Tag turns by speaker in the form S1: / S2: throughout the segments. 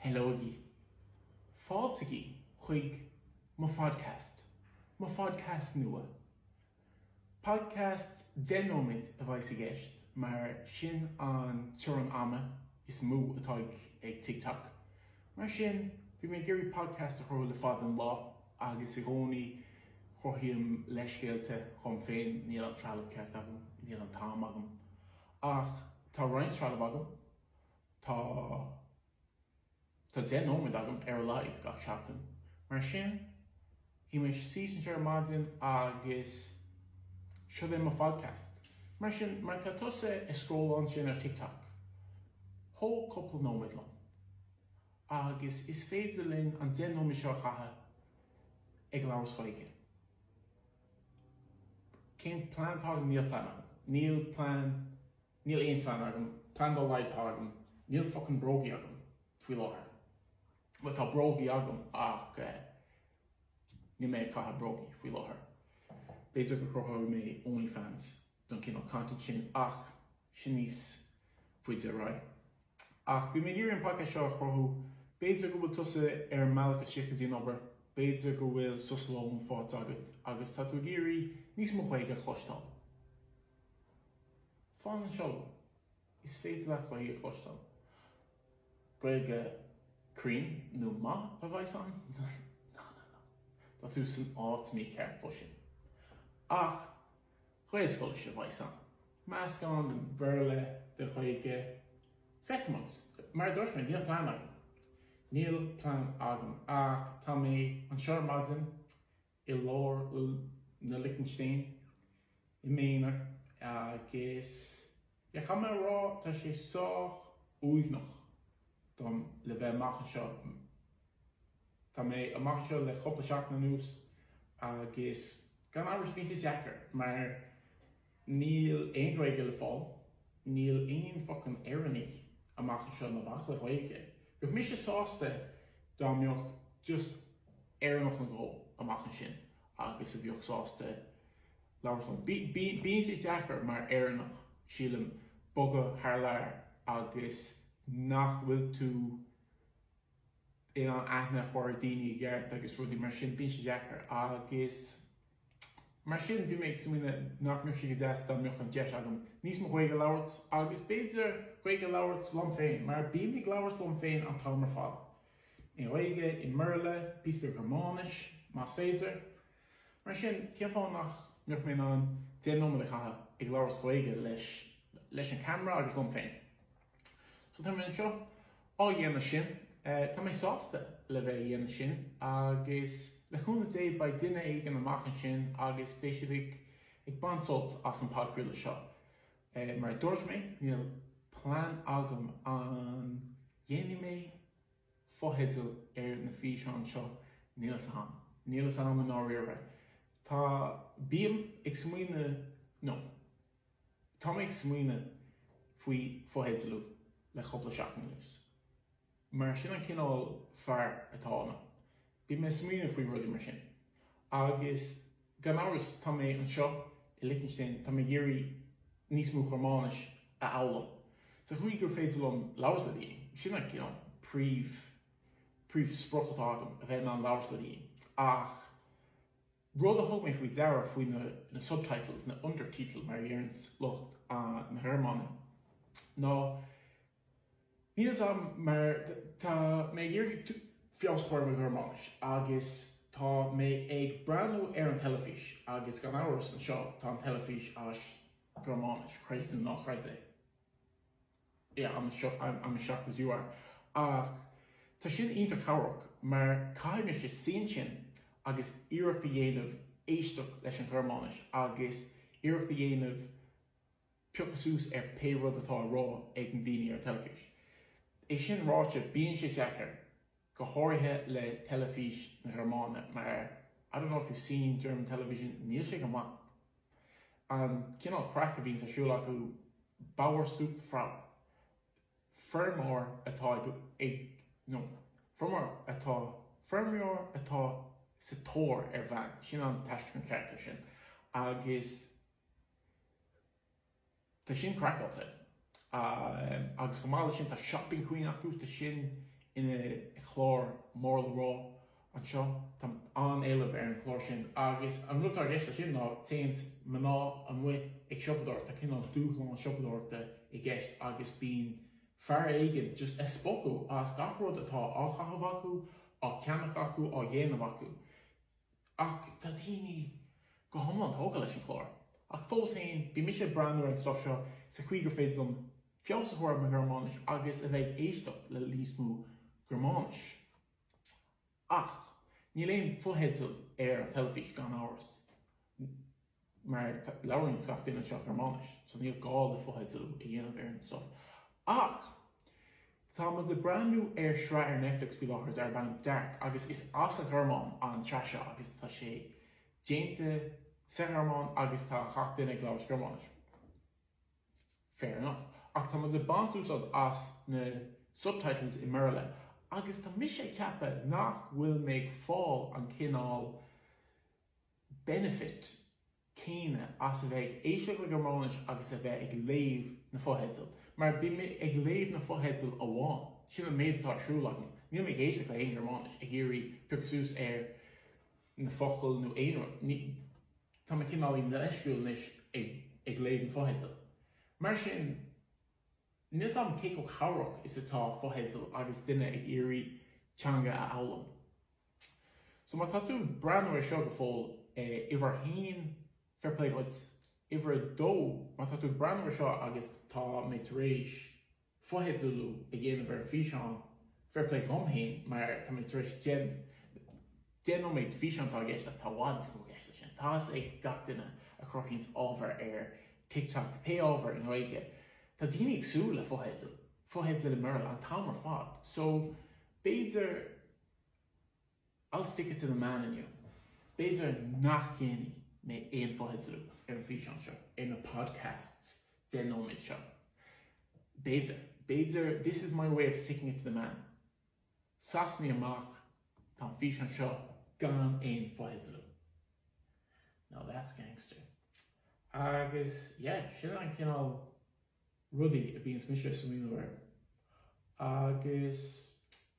S1: Heileoigí! Fáiltigí chuig mo phodcast, mo phodcast nua! Podcast deich nóiméad a bheidh i gceist mar sin an teorann ama is mó atá ag TikTok, mar sin bhí mé ag iarraidh podcast a chruthú le fada an lá agus i gcónaí cruthaím leithscéalta dhom féin, níl an trealamh ceart agam, níl an t-am agam. Ach tá roinnt trealamh agam. Tá tá deich nóiméad agam ar a laghad gach seachtain, mar sin shuí mé síos anseo ar maidin agus seo é mo phodcast. Mar sin, má tá tusa ag scrolládh ansin ar TikTok, tóg cúpla nóiméad liom. Agus is féidir linn an deich nóiméad seo a chaitheamh ag labhairt Gaeilge. Cén plean atá agam? Níl plean agam. Níl plean. Níl aon phlean agam, plean dá laghad agam, níl focain brógaí agam faoi láthair. Bhuel, tá brógaí agam ach eh, níl mé ag caitheamh brógaí faoi láthair. B'fhéidir go gcruthóidh mé Onlyfans don cineál content sin ach sin níos faide ar aghaidh. Ach bhí mé ag iarraidh an podcast seo a chruthú, b'fhéidir go bhfuil tusa ar an mbealach istigh go dtí an obair, b'fhéidir go bhfuil sos lóin faighte agat agus tá tú ag iarraidh níos mó Gaeilge a chloisteáil. Fan anseo, is féidir leat Gaeilge a chloisteáil. Gaeilge chruinn nó maith a bheidh ann? No, no, no. Tá tú san áit mícheart dó sin. Ach Gaelscoilis a bheidh ann. Meascán den Bhéarla, den Ghaeilge. Feicfimid. Mar a dúirt mé, níl plean agam. Níl plean agam. Ach tá mé anseo ar maidin. i lár na Lichtinstéin, i m'aonar, agus caithfidh mé a rá, tá sé sách uaigneach dom le bheith amach anseo. Tá mé amach anseo le cúpla seachtain anuas agus gan amhras bíonn sé deacair mar, Níl aon Ghaeilge le fáil, níl aon focain Éireannaigh amach anseo ná bac le Gaeilge. Bheadh mise sásta dá mbeadh just Éireannach nó dhó amach ansin agus a bheadh sásta labhairt liom. Bíonn sé deacair mar Éireannach, sílim, bogadh thar lear agus nach bhfuil tú. in ann aithne a chur ar dhaoine i gceart agus rudaí mar sin, bíonn sé deacair agus mar sin bhí mé ag smaoineamh nach mbeadh sé go deas dá mbeadh an deis agam níos mó Gaeilge a labhairt agus b'fhéidir Gaeilge a labhairt liom féin mar bím ag labhairt liom féin an t-am ar fad, i nGaeilge, i mBéarla, píosa beag Gearmáinis más féidir, mar sin cén fáth nach mbeadh mé in ann deich nóiméad a chaitheamh ag labhairt Gaeilge leis an camera agus liom féin? So tá mé anseo á dhéanamh sin, tá mé sásta le bheith a dhéanamh sin agus le cúnamh Dé beidh duine éigin amach ansin agus is féidir go mbeidh siad ag baint sult as an podchraoladh seo. Mar a dúirt mé, níl plean agam an dhéanfaidh mé fotheidil ar na físeáin seo, níl fhios a'am, níl fhios a'am i ndáiríre. Tá, bím ag smaoineamh, no, Tá mé ag smaoineamh faoi fotheidealú le cúpla seachtain anuas, mar sin an cineál fear atá ionam, bím ag smaoineamh faoi rudaí mar sin. Agus gan amhras, tá mé anseo i Lichtinstéin, tá mé ag iarraidh níos mó Gearmáinis a fhoghlaim, sa chaoi gur féidir liom labhairt le daoine, sin an cineál príomh, príomh sprioc atá agam, a bheith in ann labhairt le daoine. Ach. Rud a thug mé faoi deara faoi na subtitles, na undertitle mar a déarfadh lucht na Gearmáine, ná níl a fhios agam mar tá mé ag iarraidh feabhas a chur ar mo Ghearmáinis agus tá mé ag breathnú ar an teilifís agus gan amhras anseo tá an teilifís as Gearmáinis, creid é nó ná creid é. yeah, I'm as shocked as you are ach tá sin iontach cabhrach mar caithfidh mise suí ansin agus iarracht a dhéanamh éisteacht leis an Ghearmáinis agus iarracht a dhéanamh piocadh suas ar pé rud atá á rá ag na daoine ar an teilifís. É sin ráite, bíonn sé deacair. go háirithe le Teilifís na Gearmáine, mar I don't know if you've seen German television, níl sé go maith, an cineál craic a bhíonns ar siúl acu, Bauersucht Frau, feirmeoir atá ag, ag, no, feirmeoir atá, feirmeoir atá sa tóir ar bhean, sin an t-aistriúchán ceart ar sin, agus. Tá sin craiceáilte. Agus chomh maith leis sin, tá Shopping Queen acu, tá sin ina chlár mór le rá anseo, tá an-éileamh ar an chlár sin. Agus an rud atá i gceist leis sin ná téann mná amuigh ag siopadóireacht, tá cineál dúshlán siopadóireachta i gceist agus bíonn fear éigin just ag spochadh as gach rud atá á chaitheamh acu, á cheannach acu, á dhéanamh acu. Ach tá daoine go hiomlán tógtha leis an chlár. Ach fós féin, bíonn mise ag breathnú ar an stuif seo sa chaoi gur féidir liom feabhas a chur ar mo Ghearmáinis agus a bheith ag éisteacht le níos mó Gearmáinis. Ach níl aon fotheidil ar an teilifís, gan amhras. mar labhraíonn gach duine anseo Gearmáinis so níl gá le fotheidil a dhéanamh ar an stuff. Ach tá muid ag breathnú ar shraith ar Netflix faoi láthair darb ainm Dark agus is as an Ghearmáin an tsraith seo agus tá sé déanta sa Ghearmáinis agus tá gach duine ag labhairt Gearmáinis. Fair enough. Ach tá muid ag baint úsáid as na subtitles i mBéarla agus tá mise ag ceapadh nach bhfuil mé ag fáil an cineál benefit, céanna as a bheith ag éisteacht le Gearmáinis agus a bheith ag léamh na fotheidil, mar bím ag léamh na fotheidil amháin, sin an méid atá ar siúl agam, níl mé ag éisteacht le haon Ghearmáinis ag iarraidh piocadh suas ar na focail nó aon rud, tá mé cineálaí leisciúil anois ag ag léamh na fotheidil. Mar sin, níl 's agam cé chomh cabhrach is atá fotheidil agus duine ag iarraidh teanga a fhoghlaim. So má tá tú ag breathnú air seo go fóill, uimhir a haon, fair play dhuit. Uimhir a dó, má tá tú ag breathnú air seo agus tá mé tar éis fotheidealú a dhéanamh ar an bhfíseán, fair play dhom féin mar tá mé tar éis deich, deich nóiméad de físeán atá i gceist ach tá i bhfad níos mó i gceist leis sin. Tá's ag gach duine a chruthaíonns ábhar ar TikTok, pé ábhar i nGaeilge, tá daoine ag súil le fotheidil i mBéarla an t-am ar fad. So b'fhéidir. I'll stick it to the man inniu. B'fhéidir nach ndéanfaidh mé aon fotheidealú ar an bhfíseán seo, ar na podcasts deich nóiméad seo. B'fhéidir. B'fhéidir this is my way of sticking it to the man. Sasanaí amach, tá an físeán seo gan aon fotheidealú. Now that's gangster. Agus, yeah, sin an cineál. rudaí a bíonns mise a smaoineamh air agus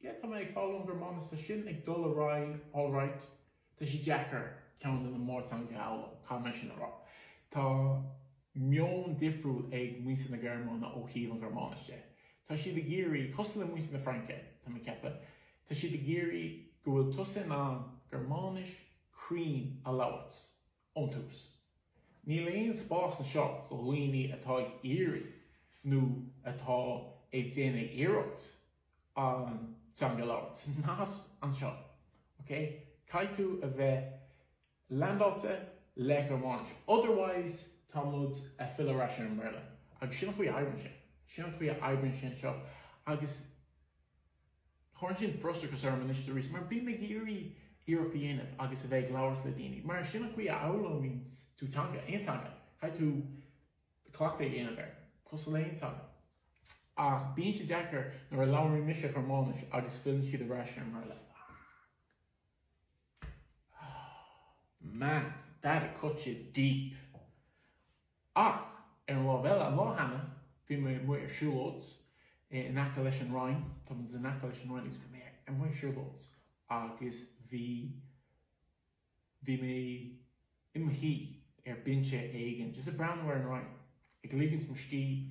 S1: yeah tá mé ag foghlaim Gearmáinis tá sin ag dul ar aghaidh alright tá sé deacair ceann de na mórteangacha a fhoghlaim caithfidh mé sin a rá tá meon difriúil ag muintir na Gearmáine ó thaobh an Ghearmáinis de tá siad ag iarraidh cosúil le muintir na Fraince tá mé ag ceapadh tá siad ag iarraidh go bhfuil tusa in ann Gearmáinis cruinn a labhairt Ón tús, níl aon spás anseo do dhaoine atá ag iarraidh, nó atá ag déanamh iarracht, an teanga a labhairt. Sin nós anseo, ok? Caithfidh tú a bheith leaindeáilte le Gearmáinis, otherwise tá muid a' filleadh ar ais ar an mBéarla. Agus sin an chaoi a oibríonn sé. Sin an chaoi a oibríonn sé anseo agus. Cuireann sin frustrachas orm anois is arís, mar bím ag iarraidh iarracht a dhéanamh agus a bheith ag labhairt le daoine, mar sin an chaoi a fhoghlaimíonn tú teanga, aon teanga, caithfidh tú cleachtadh a dhéanamh air, cosúil le haon teanga. Ach bíonn sé deacair nuair a labhraíonn mise Gearmáinis agus filleann siad ar ais ar an mBéarla. Man, that cut you deep! Ach ar an lámh eile, an lá cheana, bhí mé amuigh ar siúlóid in aice leis an Réin, tá muid in aice leis an Réin agus bhí mé amuigh ar siúlóid agus bhí, bhí mé i mo shuí ar bhinse éigin just ag breathnú ar an Réin, ag ligean mo scíth.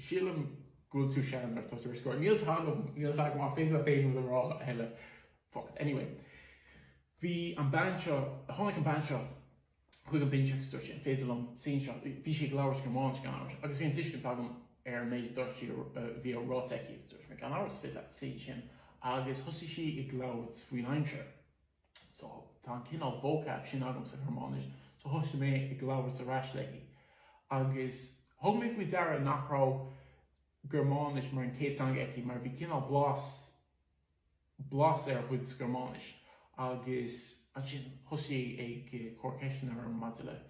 S1: Sílim go bhfuil tú sean agus ar scor. Níl 's agam, níl 's agam ach b'fhéidir nach aon rud a rá a thuilleadh. Fuck. Anyway. Bhí an bean seo, tháinig an bean seo chuig an binse agus dúirt sí, an féidir liom suí anseo? Bhí sí ag labhairt Gearmáinis gan amhras agus bhí an tuiscint agam ar an méid a dúirt sí, a bhí ráite aici agus dúirt mé, gan amhras, féadann tú suí ansin agus thosaigh sí ag labhairt faoin aimsir. so tá an cineál vocab sin agam sa Ghearmáinis, so thosaigh mé ag labhairt ar ais léi. Agus thug mé faoi deara nach raibh Gearmáinis mar chéad teanga aici mar bhí cineál blas, blas ar a cuid Gearmáinis. Agus ansin thosaigh sí ag cur ceisteanna orm maidir le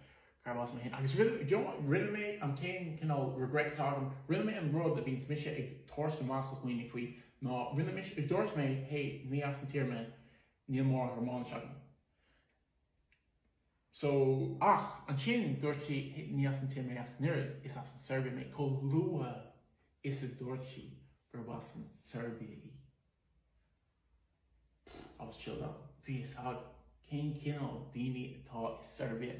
S1: Carbh as mé fhéin agus rinne, you know, rinne mé an t-aon cineál regret atá agam, rinne mé an rud a bhíonns mise ag tabhairt amach do dhaoine faoi ná rinne mise, dúirt mé hey ní as an tír mé, níl mórán Gearmáinis agam so ach ansin dúirt sí hey ní as an tír mé ach an oiread, is as an tSeirbia mé, chomh luath is a dúirt sí gurb as an tSeirbia í. Agus seo liom, bhí a fhios agam cén cineál daoine atá sa tSeirbia.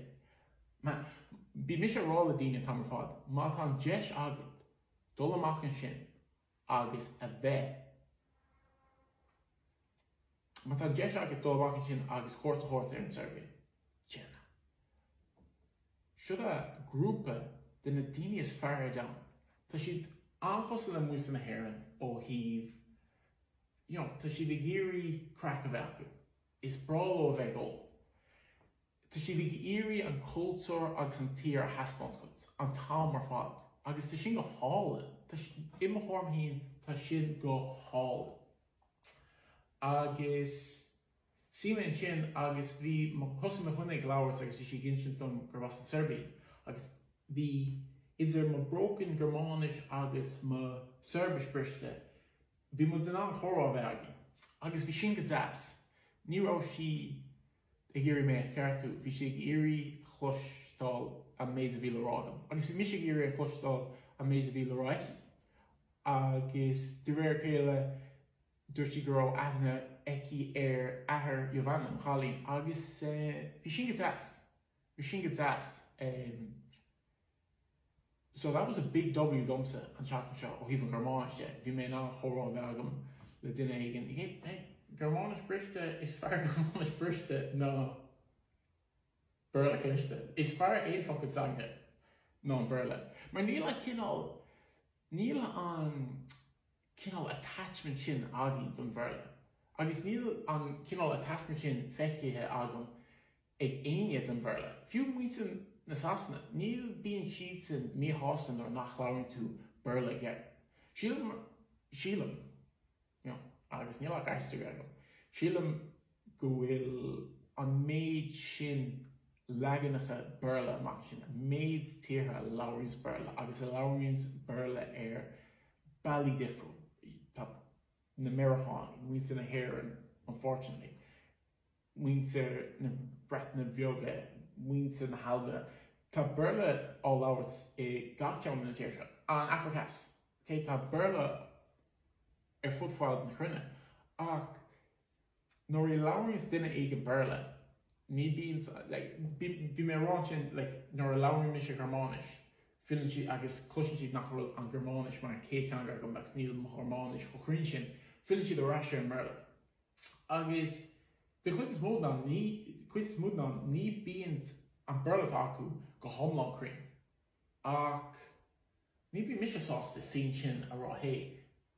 S1: Bíonn mise ag rá le daoine an t-am ar fad, má tá an deis agat dul amach ansin agus a bheith, má tá an deis agat dul amach ansin agus cuairt a thabhairt ar an tSeirbia, déan é. Seo iad grúpa de na daoine is fearr ar domhan. Tá siad an-chosúil le muintir na hÉireann ó thaobh you know tá siad ag iarraidh craic a bheith acu, is breá leo a bheith ag ól, tá siad ag iarraidh an cultúr agus an tír a thaispeáint duit an t-am ar fad agus tá sin go hálainn, tá sin, i mo thuairim féin, tá sin go hálainn. Agus. Shuigh mé ansin agus bhí mé, thosaigh muidne ag labhairt agus bhí sí ag insint dom gurb as an tSeirbia agus bhí idir mo broken Gearmáinis agus mo Sheirbis briste bhí muid in ann comhrá a bheith againn agus bhí sin go deas. Ní raibh sí ag iarraidh mé a cheartú, bhí sí ag iarraidh a chloisteáil an méid a bhí le rá agam agus bhí mise ag iarraidh a chloisteáil an méid a bhí le rá aici agus de réir a chéile Dúirt sí go raibh aithne aici ar athair Giovanna, an cailín, agus bhí sin go deas. Bhí sin go deas. So that was a big W domsa an tseachtain seo ó thaobh an Ghearmáinis de. Bhí mé in ann comhrá a bheith agam le duine éigin. Hey, Gearmáinis briste, is fearr Gearmáinis briste ná Béarla cliste. Is fearr aon fucking teanga ná an Béarla. Mar níl an cineál, níl an cineál attachment sin againn don Bhéarla agus níl an cineál attachment sin feicthe agam ag éinne don Bhéarla, fiú muintir na Sasana, ní bíonn siadsan míshásta nuair nach labhrann tú Béarla geit. Sílim, sílim, you know, agus níl ach aistriú agam, sílim, go bhfuil an méid sin leaganacha Béarla amach ansin, an méid tíortha a labhraíonns Béarla agus a labhraíonns Béarla ar bealaí difriúil, tá na Meireacánaigh, muintir na hÉireann, unfortunately, muintir na Breataine Bheaga, muintir na hAlban, tá Béarla á labhairt i gach ceann de na tíortha seo, an Afraic Theas, tá Béarla ar fud fad na cruinne, ach. nuair a labhraíonns duine éigin Béarla, ní bíonn sa, like, bhí mé ag rá ansin, like, nuair a labhraíonn mise Gearmáinis, filleann siad agus cloiseann siad nach bhfuil an Gearmáinis mar an céad teanga agam agus níl mo Ghearmáinis chomh cruinn sin, filleann siad ar ais ar an mBéarla. Agus den chuid is mó den am, ní bíonn an Béarla atá acu go hiomlán cruinn. Ach ní bhíonn mise sásta sin sin a rá, hey,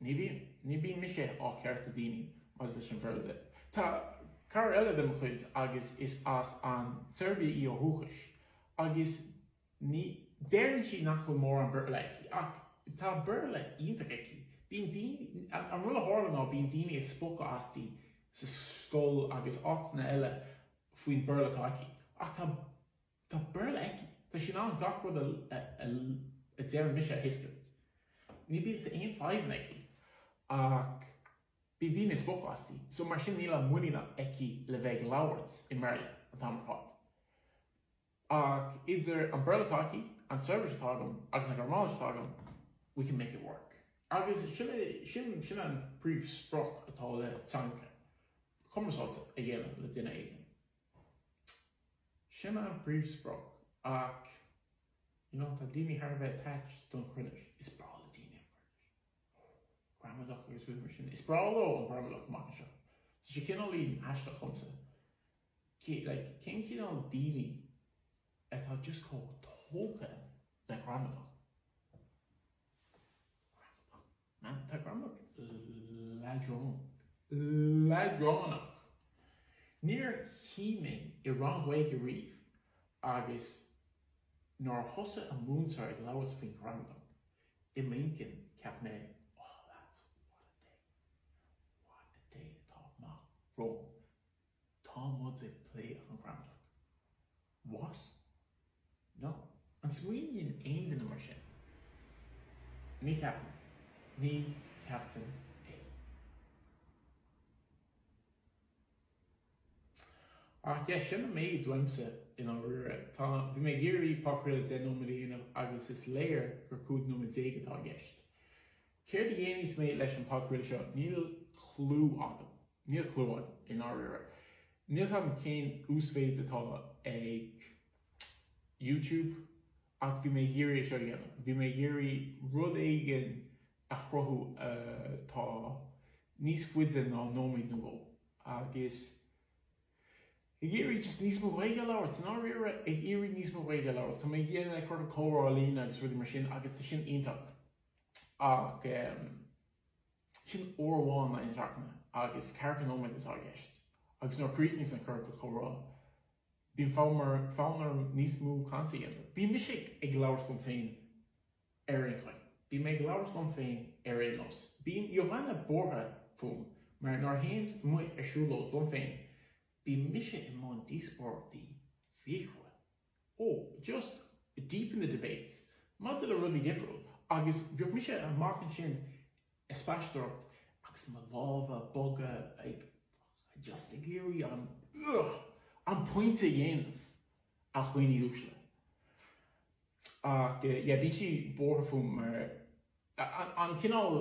S1: Ní bhíonn mise ag ceartú daoine maidir leis an Bhéarla de. Tá cara eile de mo chuid agus is as an tSeirbia í ó dhúchas agus ní, deireann sí nach bhfuil mórán Béarla aici ach tá Béarla iontach aici. Bíonn daoine, an rud a tharla ná bíonn daoine ag spochadh asti sa scoil agus áiteanna eile faoin Bhéarla atá aici ach tá, Tá Béarla aici. Tá sí in ann gach rud a a deirim mise a thuiscint. Ní bíonn sa aon fadhbanna aici ach bíonn daoine ag spochadh asti so mar sin níl an muinín aici le bheith ag labhairt i mBéarla an t-am ar fad. Ach idir an Béarla atá aici, an tSeirbis atá agam agus an Ghearmáinis atá agam we can make it work. Agus sin é, sin, sin an príomhsprioc atá le teanga, cumarsáid a dhéanamh le duine éigin. Sin an príomhsprioc ach you know tá daoine thar a bheith attached don chruinneas, is breá le daoine an cruinneas, gramadach agus rudaí mar sin, is breá leo an ghramadach amach anseo. Tá sé cineáilín aisteach dhomsa, cé, like, cén cineál daoine atá just chomh tógtha le gramadach? Gramadach. Tá an ghramadach leadránach, níor shuigh mé i rang Gaeilge riamh agus nuair a thosaigh an múinteoir ag labhairt faoin ghramadach i m'intinn cheap mé 'oh lads, what a day, what a day atá amach romham'. Tá muid ag plé an ghramadach. What? No. An smaoiníonn aon duine mar sin? Ní cheapaim. Ní cheapfainn é. Ach yeah, sin an méid uaimse i ndáiríre. Tá, bhí mé ag iarraidh podchraoladh deich nóiméad a dhéanamh agus is léir gur cúig nóiméad déag atá i gceist. Céard a dhéanfaidh mé leis an podchraoladh seo? Níl clú agam. Níl clú agam, i ndáiríre. Níl 's agam cén uasmhéid atá ag YouTube ach bhí mé ag iarraidh é seo a dhéanamh. Bhí mé ag iarraidh rud éigin a chruthú atá níos faide ná nóiméad nó dhó agus ag iarraidh just níos mó Gaeilge a labhairt, i ndáiríre, ag iarraidh níos mó Gaeilge a labhairt. Tá mé ag déanamh ciorcal comhrá ar líne agus rudaí mar sin agus tá sin iontach ach. Sin uair amháin in aghaidh na seachtaine, agus ceathracha nóiméad atá i gceist, agus nuair a chríochnaíos an ciorcal comhrá, bíonn fonn orm níos mó cainte a dhéanamh. Bíonn mise ag labhairt liom féin ar aon chaoi. Bíonn mé ag labhairt liom féin ar aon nós. Bíonn Johanna buartha fúm mar nuair a théims amuigh ar siúlóid liom féin, bíonn mise i mbun díospóireachtaí fíochmhara. oh, just deep in the debates maidir le rudaí difriúil agus bheadh mise amach ansin ag spaisteoireacht agus mo lámha ag bogadh, like just ag iarraidh an ugh an pointe a dhéanamh a dhaoine uaisle ach yeah bíonn sí buartha fúm mar an cineál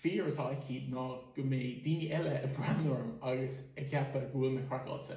S1: fear atá aici ná go mbeidh daoine eile ag breathnú orm agus ag ceapadh go bhfuil mé craiceáilte.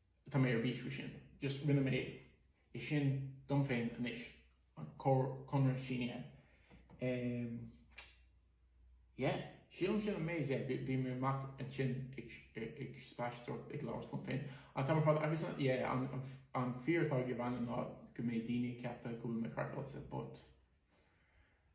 S1: Tá mé ar bís faoi sin. Just rinne mé é sin dom féin anois, an conradh sínithe. Em. Yeah. Sílim sin an méid é. Bím amach ansin ag spaisteoireacht, ag labhairt liom féin an t-am ar fad agus yeah, an fear atá ag Johanna ná go mbeidh daoine ag ceapadh go bhfuil mé craiceáilte but.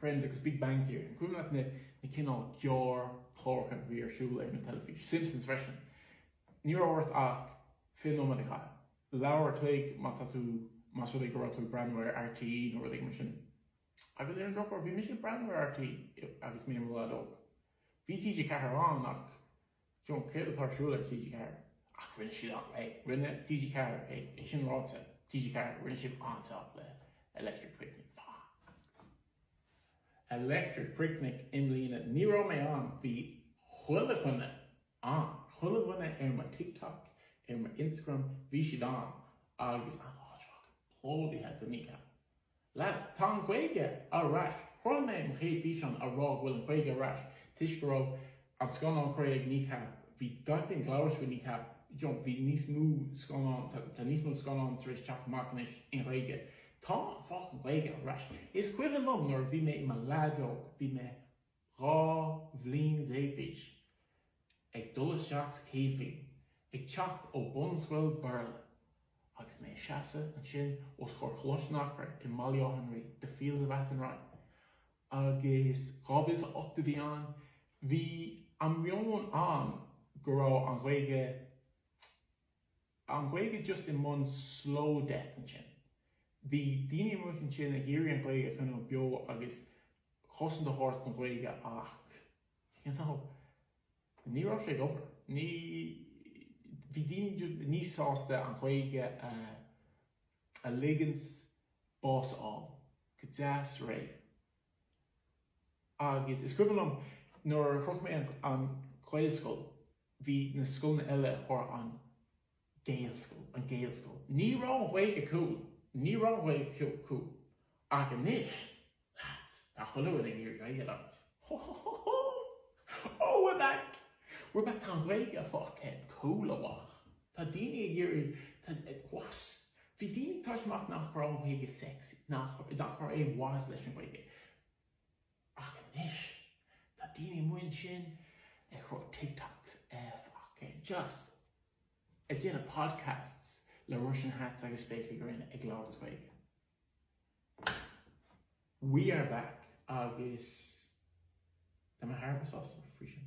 S1: Friends agus Big Bang Theory. An cuimhin leat na cineál gearrchláracha a bhí ar siúl ar an teilifís? Simpsons freisin. Ní raibh ort ach fiche nóiméad a chaitheamh, leathuair an chloig má tá tú, más rud é go raibh tú ag breathnú ar RTÉ nó rud éigin mar sin. Agus ar an drochuair, bhí mise ag breathnú ar RTÉ agus mé i mo leaid óg. Bhí TG4 ann ach. You know, céard atá ar siúl le TG4, ach rinne siad an-, hey. Rinne TG4 é, é sin ráite, TG4, rinne siad an-jab le Electric Picnic. Electric Picnic i mbliana, ní raibh mé ann, bhí chuile dhuine ann, chuile dhuine ar mo TikTok, ar mo Instagram, bhí siad ann, agus an áit fucking plódaithe do Kneecap. Lads, tá an Ghaeilge ar ais! Chuir mé mo chéad físeán a rá go bhfuil an Ghaeilge ar ais toisc go raibh an scannán Chré ag Kneecap, bhí gach duine ag labhairt faoi Kneecap, you know, bhí níos mó scannán, tá, tá níos mó scannán tar éis teacht amach anois i nGhaeilge. Tá an fucking Gaeilge ar ais! Is cuimhin liom nuair a bhí mé i mo leaid óg, bhí mé. Dhá bhliain déag d'aois, ag dul isteach sa chéad bhliain, ag teacht ó bunscoil Bhéarla. Agus mé ag seasadh ansin os comhair Choláiste an Eachréidh i mBaile Átha an Rí, The Fields of Athenry, agus 2008 a bhí ann, bhí an meon ann go raibh an Ghaeilge, an Ghaeilge just i mbun slow death ansin. Bhí daoine amuigh ansin ag iarraidh an Ghaeilge a choinneáil beo agus chosaint a thabhairt don Ghaeilge ach, you know, ní raibh sé ag obair. Ní, bhí daoine just níos sásta an Ghaeilge a, a ligint bás a fháil go deas réidh. Agus is cuimhin liom nuair a shroich mé an, an Ghaelscoil bhí na scoileanna eile a chuir an Gaelscoil, an Gaelscoil, ní raibh an Ghaeilge cool, ní raibh an Ghaeilge cool, ach anois, lads, tá chuile dhuine ag iarraidh Gaeilge labhairt, ho ho ho ho, oh we're back, we're back, tá an Ghaeilge fucking cool amach, tá daoine ag iarraidh, tá, what? bhí daoine ag tabhairt amach nach raibh an Ghaeilge sexy, nach, nach raibh aon mhaitheas leis an Ghaeilge. Ach anois, tá daoine amuigh ansin ag cur TikToks, fucking just ag déanamh podcasts le Russian hats agus spéaclaí gréine ag labhairt as Gaeilge. We are back agus tá mé thar a bheith sásta faoi sin.